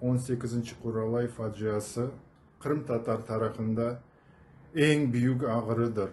On sekizinci Quralay faciası qırımtatar tarafında eñ büyük ağrıdır.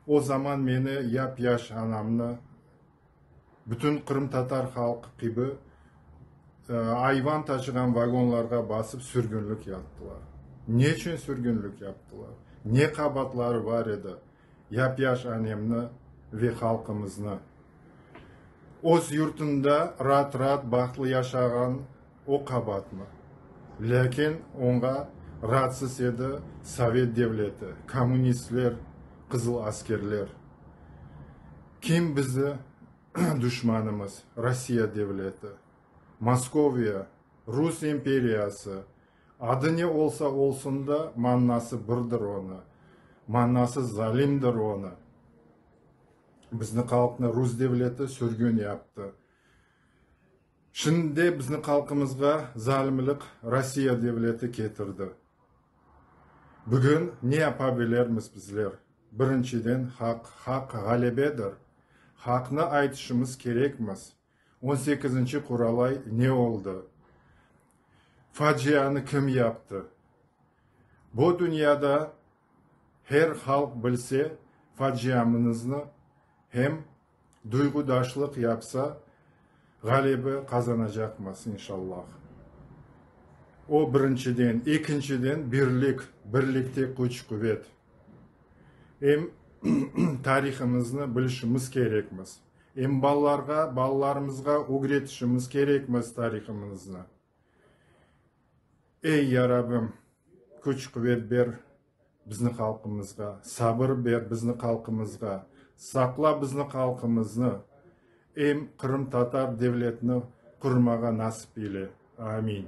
O zaman meni, yap-yaş anamnı, bütün qırımtatar halqı kibi ayvan taşığan vagonlarğa basıp sürgünlik yaptılar. Neçün sürgünlik yaptılar? Ne qabaatları bar edi? yap-yaş anemni ve halqımıznı, öz yurtunda raat-raat, bahtlı yaşağan o qabaatnı. Lâkin oña raatsız edi Sovet devleti, kommunistler, qızıl askerler. Kim bizi duşmanımız? Rossiya devleti, Moskoviya, Rus imperiyası. Adı ne olsa olsun da, mannası birdir onı, mannası zalimdir onı. Bizni qalqnı rus devleti sürgün yaptı. Şimdi de bizni qalqımızğa zalimlik Rossiya devleti ketirdi. Bugün ne yapa bilermiz bizler? Birinçiden, haq, haq ğalebedir. Haqnı aytışımız kerekmiz. On sekizinci Quralay ne oldı? Facianı kim yaptı? Bu dünyada her halq bilse faciamınıznı hem duyğudaşlıq yapsa ğalebi qazanacaqmız inşallah. O birinciden. Ekinciden birlik, birlikte küç quvet. Em tarihımıznı bilişimiz kerekmiz. Em balalarğa, balalarımızğa ögretişimiz kerekmiz tarihımıznı. Ey, Ya Rabbim, küç-quvet ber bizni halqımızğa, sabır ber bizni halqımızğa, saqla bizni halqımıznı, em qırımtatar devletini qurmağa nasip eyle. Amin.